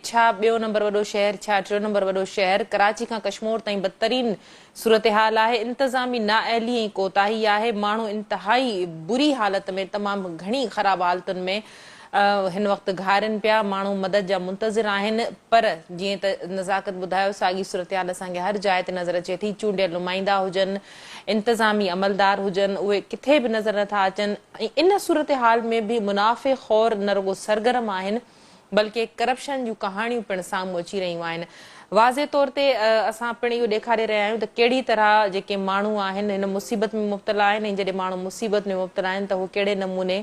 ڇا ٻيو نمبر وڏو شهر ڇا ٽيون نمبر وڏو شهر ڪراچي کان ڪشمور تائين بدترين صورتحال آهي انتظامي نااهلي ۽ ڪوتاهي آهي ماڻهو انتهائي بري حالت ۾ تمام گهڻي خراب حالتن ۾ هن وقت گهارين پيا ماڻهو مدد جا منتظر آهن پر جيئن ته نزاڪت ٻڌايو ساڳي صورتحال اسان کي هر جاء تي نظر اچي ٿي چونڊيل نمائندا هجن انتظامي عملدار هجن اهي ڪٿي به نظر نٿا اچن ۽ ان صورتحال ۾ به منافع خور نه رڳو سرگرم آهن بلڪه ڪرپشن جون ڪهاڻيون پڻ سامهون اچي رهيون آهن. واضح طور تي اسان پڻ اهو ڏيکاري رهيا آهيون ته ڪهڙي طرح جيڪي ماڻهو آهن هن مصيبت ۾ مبتلا آهن ۽ جڏهن ماڻهو مصيبت ۾ مبتلا آهن ته اهو ڪهڙي نموني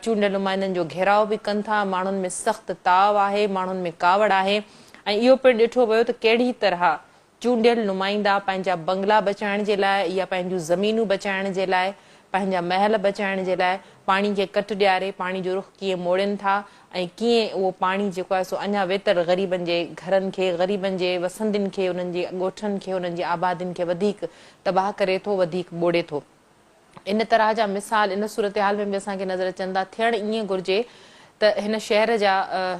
چونڊيل نمائندن جو گهيراء به ڪن ٿا، ماڻهن ۾ سخت تاء آهي، ماڻهن ۾ ڪاوڙ آهي ۽ اهو پڻ ڏٺو ويو ته ڪهڙي طرح چونڊيل نمائندا پنهنجا بنگلا بچائڻ جي لاء يا پنهنجون زمينون بچائڻ جي لاء، پنهنجا محل بچائڻ جي لاء پاڻي کي ڪٽ ڏياري پاڻي جو رخ ڪيئن موڙين ٿا ۽ ڪيئن اهو پاڻي جيڪو آهي سو اڃا ويتر غريبن جي گهرن کي، غريبن جي وسندين کي، انهن جي ڳوٺن کي، انهن جي آبادين کي وڌيڪ تباهه ڪري ٿو، وڌيڪ ٻوڙي ٿو. ان طرح جا مثال ان صورتحال ۾ به اسان کي نظر اچن ٿا. ٿيڻ ائين گهرجي ته هن شهر جا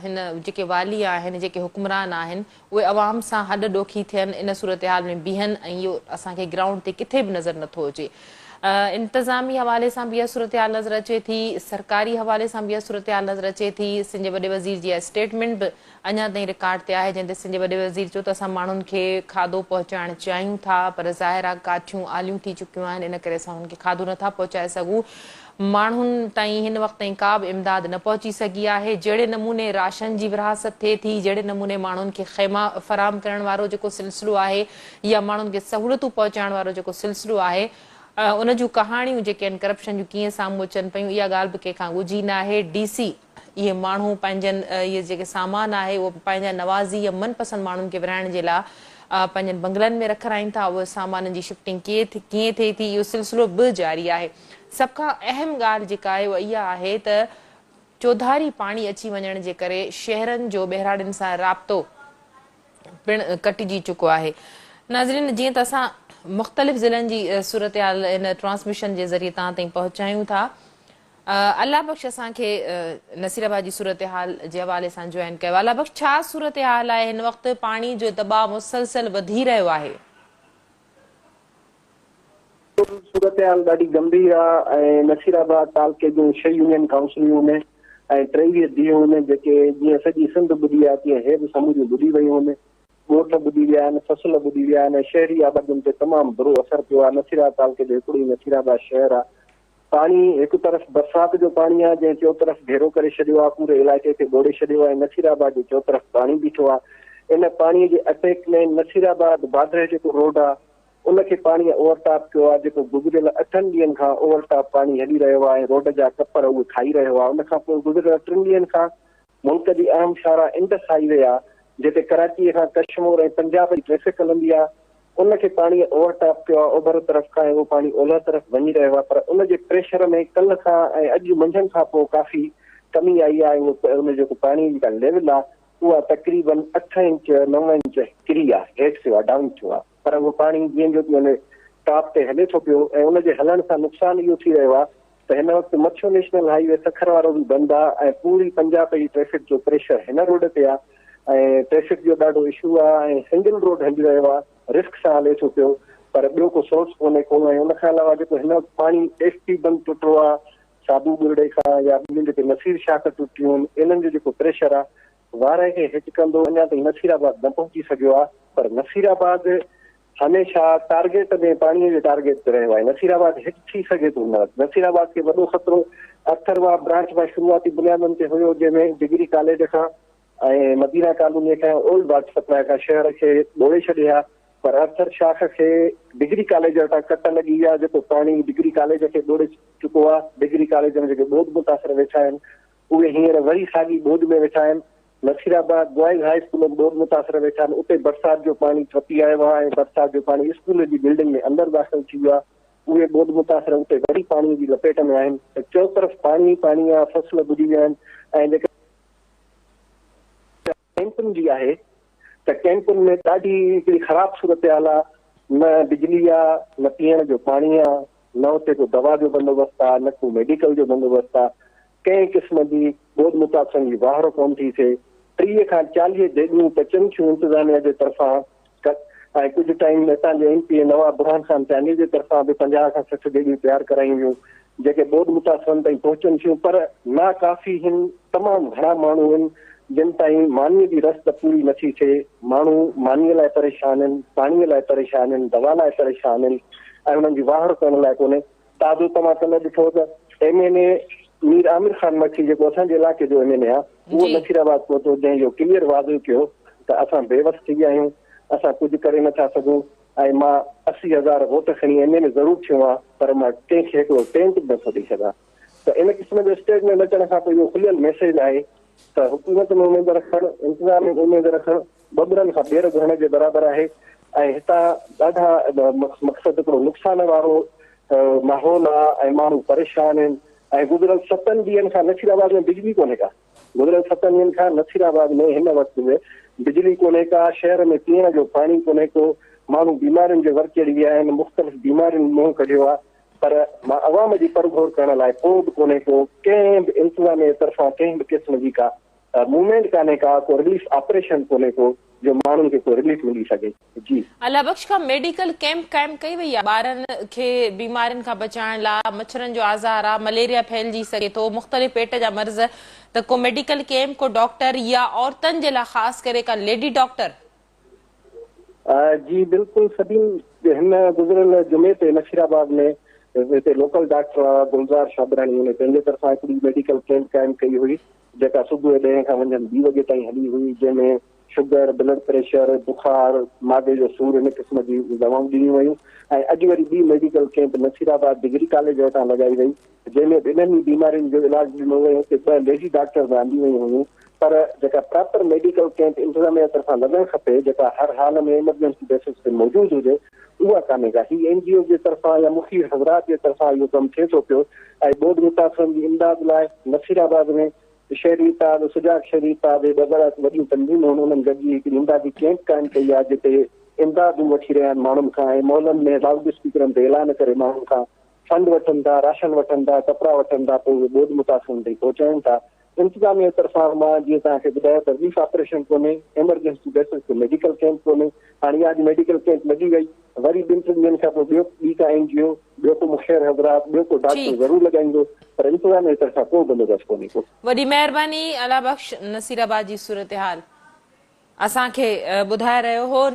هن جيڪي والي آهن، جيڪي حڪمران آهن، اهي عوام سان هڏ ڏوکي ٿين، ان صورتحال ۾ بيهن ۽ اهو اسان کي گرائونڊ تي ڪٿي به نظر نه ٿو اچي. انتظامي حوالي سان به اها صورتحال نظر اچي ٿي، سرڪاري حوالي سان به اها صورتحال نظر اچي ٿي، سنڌ جي وڏي وزير جي اها اسٽيٽمينٽ به اڃا تائين رڪارڊ تي آهي جنهن تي سنڌ جي وڏي وزير چيو ته اسان ماڻهن کي کاڌو پهچائڻ چاهيون ٿا پر ظاهر آهي ڪاٺيون آليون ٿي چڪيون آهن ان ڪري اسان انهن کي کاڌو نٿا پهچائي سگهون ماڻهن تائين هن وقت تائين ڪا به امداد نه پهچي سگهي آهي جهڙي نموني راشن جي ورهاست ٿئي ٿي جهڙي نموني ماڻهن کي خيما فراهم ڪرڻ وارو جيڪو سلسلو آهي يا ماڻهن کي سهولتون پهچائڻ وارو جيڪو سلسلو آهي ان جون ڪهاڻيون جيڪي آهن ڪرپشن جون ڪيئن سامهون اچن پيون اها ڳالهه به ڪنهن کان ڳجهي ناهي ڊي سي اهي ماڻهو پنهنجن اهي جيڪي سامان آهي اهو پنهنجا نوازي يا من پسند ماڻهن کي ورهائڻ جي لاء پنهنجن بنگلن ۾ رکرائين ٿا اهي سامانن جي شفٽنگ ڪيئن ٿئي ٿي اهو سلسلو به جاري آهي سڀ کان اهم ڳالهه جيڪا آهي اها اها آهي ته چوڌاري پاڻي اچي وڃڻ جي ڪري شهرن جو ٻهراڙين سان رابطو پڻ ڪٽجي چڪو آهي ناظرين جيئن ته اسان مختلف ضلعن جي صورتحال هن ٽرانسميشن جي ذريعي تان تائين پهچايون ٿا الله بخش اسان کي نصير آباد جي صورتحال جي حوالي سان جوائن ڪيو الله بخش ڇا صورتحال آهي هن وقت پاڻي جو دٻاء مسلسل وڌي رهيو آهي. بلڪل صورتحال ڏاڍي گنڀير آ ۽ نصير آباد تعلقي جون ڇهه يونين ڪائونسليون هن ۽ ٽيويهه ديهه هن جيڪي جيئن سڄي سنڌ ٻڏي آ تيئن هي به سموريون ٻڏي ويون هن ڳوٺ ٻڏي ويا آهن فصل ٻڏي ويا آهن ۽ شهري آبادين تي تمام برو اثر پيو آ نصير آباد تعلقي جو هڪڙو ئي نصير آباد شهر آ پاڻي هڪ طرف برسات جو پاڻي آهي جنهن چوطرف گهيرو ڪري ڇڏيو آهي پوري علائقي کي ٻوڙي ڇڏيو آهي نصير آباد جي چوطرف پاڻي بيٺو آهي ان پاڻي جي اٽيڪ ۾ نصير آباد بادرهه جيڪو روڊ آهي ان کي پاڻي اوور ٽاپ ڪيو آهي جيڪو گذريل اٺن ڏينهن کان اوور ٽاپ پاڻي هلي رهيو آهي روڊ جا ڪپر اهو کائي رهيو آهي ان کانپوء گذريل ٽن ڏينهن کان ملڪ جي اهم شاهراهه انڊس هائي وي آهي جتي ڪراچيء کان ڪشمور ۽ پنجاب جي ٽريفڪ هلندي آهي، ان کي پاڻيء اوور ٽاپ ڪيو آهي اوڀر طرف کان ۽ اهو پاڻي اولهه طرف وڃي رهيو آهي پر ان جي پريشر ۾ ڪلهه کان ۽ اڄ منجهند کان پوء ڪافي ڪمي آئي آهي ۽ اهو ان جيڪو پاڻيء جي جيڪا ليول آهي اها تقريبن اٺ انچ نو انچ ڪري آهي هيٺ ٿيو آهي ڊائون ٿيو آهي. پر اهو پاڻي جيئن جو تيئن ٽاپ تي هلي ٿو پيو ۽ ان جي هلڻ سان نقصان اهو ٿي رهيو آهي ته هن وقت مڇو نيشنل هائي وي سکر وارو به بند آهي ۽ پوري پنجاب جي ٽريفڪ جو پريشر هن روڊ تي آهي ۽ ٽريفڪ جو ڏاڍو اشو آهي ۽ سنگل روڊ هلي رهيو آهي رسڪ سان هلي ٿو پيو پر ٻيو ڪو سورس ڪونهي ڪو ۽ ان کان علاوه جيڪو هن وقت پاڻي ايس پي بند ٽٽو آهي ساڌو ٻرڙي کان يا ٻين جيڪي نصير شاخ ٽٽيون آهن انهن جو جيڪو پريشر آهي وارهه کي هٽ ڪندو، اڃا تائين نصيرآباد نه پهچي سگهيو آهي پر نصيرآباد هميشه ٽارگيٽ ۾ پاڻي جي ٽارگيٽ تي رهيو آهي، نصيرآباد هٽ ٿي سگهي ٿو هن وقت، نصيرآباد کي وڏو خطرو اٿرواهه برانچ مان شروعاتي بنيادن تي هيو جنهن ۾ ڊگري ڪاليج کان ۽ مدينه ڪالوني کان ۽ اولڊ واٽر سپلاء کان شهر کي ٻوڙي ڇڏي ها پر اٿر شاخ کي ڊگري ڪاليج وٽان ڪٽ لڳي وئي آهي جيڪو پاڻي ڊگري ڪاليج کي ٻوڙي چڪو آهي، ڊگري ڪاليج ۾ جيڪي ٻوڏ متاثر ويٺا آهن اهي هينئر وري ساڳي ٻوڏ ۾ ويٺا آهن. Nasirabad boys high school ۾ به ٻوڏ متاثر ويٺا آهن. اتي برسات جو پاڻي ٽپي آيو آهي ۽ برسات جو پاڻي اسڪول جي بلڊنگ ۾ اندر داخل ٿي ويو آهي. اهي ٻوڏ متاثر اتي وري پاڻي جي لپيٽ ۾ آهن. چئوطرف پاڻي ئي پاڻي آهي، فصل ٻڏي ويا آهن ۽ جيڪڏهن. ڪئمپن جي آهي ته ڪئمپن ۾ ڏاڍي هڪڙي خراب صورتحال آ نه بجلي آ نه پيئڻ جو پاڻي آ نه اتي ڪو دوا جو بندوبست آ نه ڪو ميڊيڪل جو بندوبست آ ڪنهن قسم جي ٻوڏ متاثرن جي واهرو ڪونه ٿي ٿئي ٽيهه کان چاليهه ديڳون پچن ٿيون انتظاميا جي طرفان ڪٽ ۽ ڪجهه ٽائيم اتان جي M P A Nawab Burhan Khan Chandio جي طرفان به پنجاهه کان سٺ ٻيڙيون تيار ڪرايون ويون جيڪي ٻوڏ متاثرن تائين پهچن ٿيون پر نا ڪافي هن تمام گهڻا ماڻهو هن جن تائين ماني جي رس ته پوري نٿي ٿئي ماڻهو ماني لاء پريشان هن پاڻي لاء پريشان هن دوا لاء پريشان هن ۽ انهن جي واهڙ ڪرڻ لاء ڪونهي تازو توهان ته نه ڏٺو ته M N A Mir Amir Khan مٺي جيڪو اسان جي علائقي جو ايم اين اي آ اهو نصير آباد پهتو جنهن اهو ڪليئر واضح ڪيو ته اسان بي وس ٿي ويا آهيون اسان ڪجهه ڪري نه ٿا سگهون ۽ مان اسي هزار ووٽ کڻي ايم اين اي ضرور ٿيو آهيان پر مان ڪنهن کي هڪڙو ٽينٽ به نه ٿو ڏئي سگهان ته ان قسم جو اسٽيٽمينٽ اچڻ کان پوء اهو کليل ميسيج آهي ته حڪومت ۾ اميد رکڻ انتظام ۾ اميد رکڻ ٻٻرن کان ٻير گهرڻ جي برابر آهي ۽ هتان ڏاڍا مقصد هڪڙو نقصان وارو ماحول آ ۽ ماڻهو پريشان آهن ۽ گذريل ستن ڏينهن کان نصير آباد ۾ بجلي ڪونهي ڪا گذريل ستن ڏينهن کان نصير آباد ۾ هن وقت به بجلي ڪونهي ڪا شهر ۾ پيئڻ جو پاڻي ڪونهي ڪو ماڻهو بيمارين جي ور چڙهي ويا آهن مختلف بيمارين منهن ڪڍيو آ پر مان عوام جي پرگهور ڪرڻ لاء ڪو به ڪونهي ڪو ڪنهن به انتظاميه طرفان ڪنهن به قسم جي ڪا موومينٽ ڪانهي ڪا ڪو رليف آپريشن ڪونهي ڪو جو ماڻهن کي ڪو رليف ملي سگهي جي. الله بخش کان ميڊيڪل ڪيمپ قائم ڪئي وئي آ ٻارن کي بيمارين کان بچائڻ لا مڇرن جو آزار آ مليريا ڦهلجي سگهي ٿو مختلف پيٽ جا مرض ته ڪو ميڊيڪل ڪيمپ ڪو ڊاڪٽر يا عورتن جي لا خاص ڪري ڪا ليڊي ڊاڪٽر. جي بلڪل سبين هن گذريل جمعي تي نصير آباد ۾ هتي لوڪل ڊاڪٽر گلزار شابراڻي هن پنهنجي طرفان هڪڙي ميڊيڪل ڪيمپ قائم ڪئي هئي جيڪا صبح ڏهين کان منجهند ٻي وڳي تائين هلي هئي، جنهن ۾ شگر، بلڊ پريشر، بخار، معدي جو سور ان قسم جي دوائون ڏنيون ويون ۽ اڄ وري ٻي medical camp Nasirabad degree college وٽان لڳائي وئي، جنهن ۾ به انهن ئي بيمارين جو علاج ڏنو ويو، اتي ٻه ليڊي ڊاڪٽر به آنديون ويون هيون، پر جيڪا پراپر ميڊيڪل ڪيمپ انتظاميه طرفان لڳڻ کپي، جيڪا هر حال ۾ ايمرجنسي بيسز تي موجود هجي، اها ڪانهي ڪا، هي اين جي اوز جي طرفان يا مفيد حضرات جي طرفان اهو ڪم ٿئي ٿو پيو ۽ ٻوڏ متاثرن جي امداد لاء نصير آباد ۾ شهري اتحاد، سجاڳ شهري اتحاد اهي ٻه گهڻا وڏيون تنظيمون هن انهن گڏجي هڪ امدادي ڪئمپ قائم ڪئي آهي جتي امدادون وٺي رهيا آهن ماڻهن کان ۽ محلن ۾ لائوڊ اسپيڪرن تي اعلان ڪري ماڻهن کان فنڊ وٺن ٿا، راشن وٺن ٿا، ڪپڙا وٺن ٿا پوء اهي ٻوڏ متاثرن تائين پهچائين ٿا انتظاميه طرفان مان جيئن توهان کي ٻڌايو ته رليف آپريشن ڪونهي، ايمرجنسي بيسز تي ميڊيڪل ڪيمپ ڪونهي، هاڻي اها اڄ ميڊيڪل ڪيمپ لڳي وئي، وري ٻن ٽن ڏينهن کان پوء ٻيو ٻي ڪا اين جي او، ٻيو ڪو مخير حضرات، ٻيو ڪو ڊاڪٽر ضرور لڳائيندو، پر انتظاميه طرفان ڪو بندوبست ڪونهي ڪو. وڏي مهرباني الله بخش نصير آباد جي صورتحال اسان کي ٻڌائي رهيو هو.